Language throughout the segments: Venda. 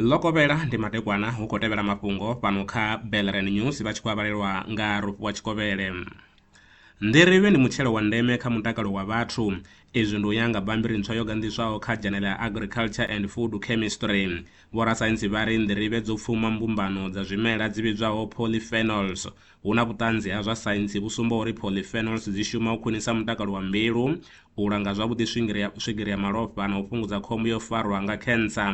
ḽo kovhela ndi madekwana hu khou tevhela mafhungo fhano kha belren news vha tshi khou avhalelwa nga rofhi wa tshikovhele nḓirivhe ndi mutshelo wa ndeme kha mutakalo wa vhathu izwi ndi u ya nga bambiri ntswa yo ganḓiswaho kha dzhanele ya agriculture and food chemistry vhorasaintsi vha ri nḓirivhe dzo pfuma mbumbano dza zwimela dzi vhidzwaho polyphenols Hu na vhuṱanzi ha zwa saintsi vhu sumbaho uri polyphenols dzi shuma u khwinisa mutakalo wa mbilu, u langa zwavhuḓi swigiri ya, swigiri ya malofha na u fhungudza khombo ya u farwa nga khensa.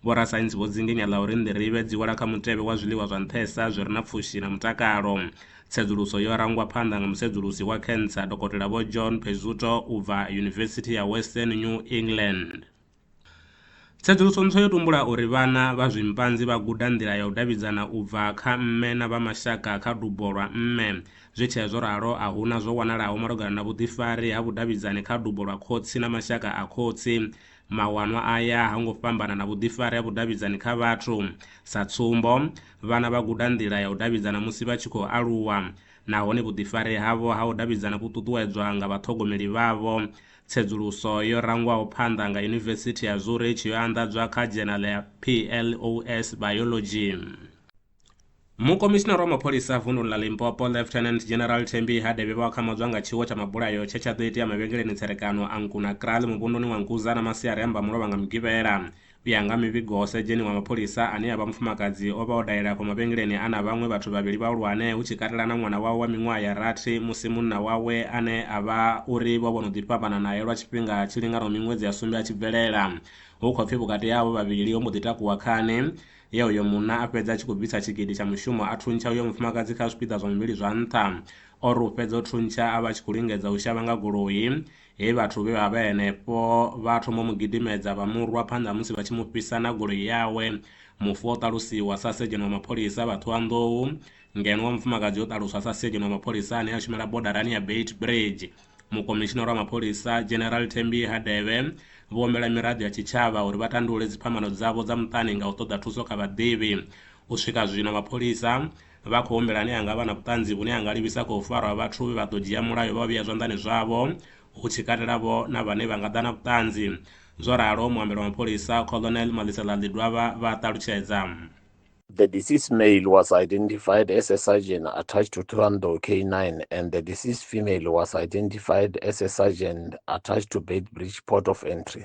Vhorasaintsi vho dzinginya ḽa uri nḓirivhe dzi wela kha mutevhe wa zwiḽiwa zwa nṱhesa zwi re na pfushi na mutakalo. Tsedzuluso yo rangwa phanḓa nga musedzulusi wa khensa, Dokotela Vho John Pezzuto u bva Yunivesithi ya Western New England. Tsedzuluso ntswa yo tumbula uri vhana vha zwimpanzi vha guda nḓila ya u davhidzana u bva kha mme na vha mashaka kha dubo lwa mme. Zwi tshee zwo ralo, a hu na zwo wanalaho malugana na vhuḓifari ha vhudavhidzani kha dubo lwa khotsi na mashaka a khotsi. Mawanwa aya ha ngo fhambana na vhuḓifari ha vhudavhidzani kha vhathu. Sa tsumbo, vhana vha guda nḓila ya u davhidzana musi vha tshi khou aluwa, nahone vhuḓifari havho ha u davhidzana vhu ṱuṱuwedzwa nga vhaṱhogomeli vhavho. Tsedzuluso yo rangwaho phanḓa nga Yunivesithi ya Zurich yo anḓadzwa kha dzhenala ya PLOS Biology. Mukomishinara wa mapholisa vunḓuni ḽa Limpopo Lieutenant General Thembi Hadebe vho akhamadzwa nga tshiwo tsha mabulayo tshe tsha ḓo itea mavhengeleni tserekano a Nkuna Kraal muvhunduni wa Nkuza na masiari a Mbamulovha nga Mugivhela. U ya nga mivhigo, sedzheni wa mapholisa ane a vha mufumakadzi o vha o dalela afho mavhengeleni a na vhaṅwe vhathu vhavhili vhahulwane, hu tshi katela na ṅwana wawe wa miṅwaha ya rathi, musi munna wawe ane a vha uri vho vha vho no ḓi fhambana nae lwa tshifhinga tshi linganaho miṅwedzi ya sumbe a tshi bvelela. Hu khou pfi vhukati ha avho vhavhili ho mbo ḓi takuwa khani, ye uyo munna a fhedza a tshi khou bvisa tshigidi tsha mushumo a thuntsha uyo mufumakadzi kha zwipiḓa zwa muvhili zwa nṱha. O ri u fhedza u thuntsha a vha a tshi khou lingedza u shavha nga goloi, He vhathu vhe vha vha henefho vha thoma u mu gidimedza vha mu rwa phanḓa musi vha tshi mu fhisa na goloi yawe. Mufu o ṱalusiwa sa Sedzheni wa Mapholisa vha Ṱhohoyanḓou, ngeno wa mufumakadzi o ṱaluswa sa Sedzheni wa Mapholisa ane a shumela bodarani ya Beitbridge. Mukomishinara wa Mapholisa, General Thembi Hadebe, vho humbela miraḓo ya tshitshavha uri vha tandulule dziphambano dzavho dza muṱani nga u ṱoḓa thuso kha vhaḓivhi. U swika zwino mapholisa Vha khou humbela ane a nga vha na vhuṱanzi vhune ha nga livhisa kha u farwa ha vhathu vhe vha ḓo dzhia mulayo vha u vhea zwanḓani zwavho, hu tshi katela vho na vhane vha nga ḓa na vhuṱanzi. Zwo ralo, muambeli wa mapholisa, Colonel Malisela Ḽidwavha vha a ṱalutshedza. The deceased male was identified as a sergeant attached to Thohoyandou K9 and the deceased female was identified as a sergeant attached to Beitbridge port of entry.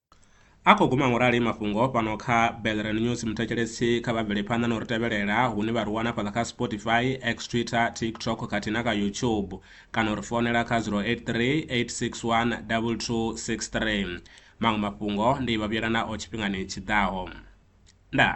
A khou guma ngorali mafhungo fhano kha Belren News muthetshelesi kha vha bvele phanḓa na u ri tevhelela hune vha ri wana fhaḽa kha Spotify, X Twitter, TikTok khathihi na kha YouTube kana u ri founela kha 083 861 2263. Maṅwe mafhungo ndi vha vhuyela nao tshifhingani tshi ḓaho. Ndaa.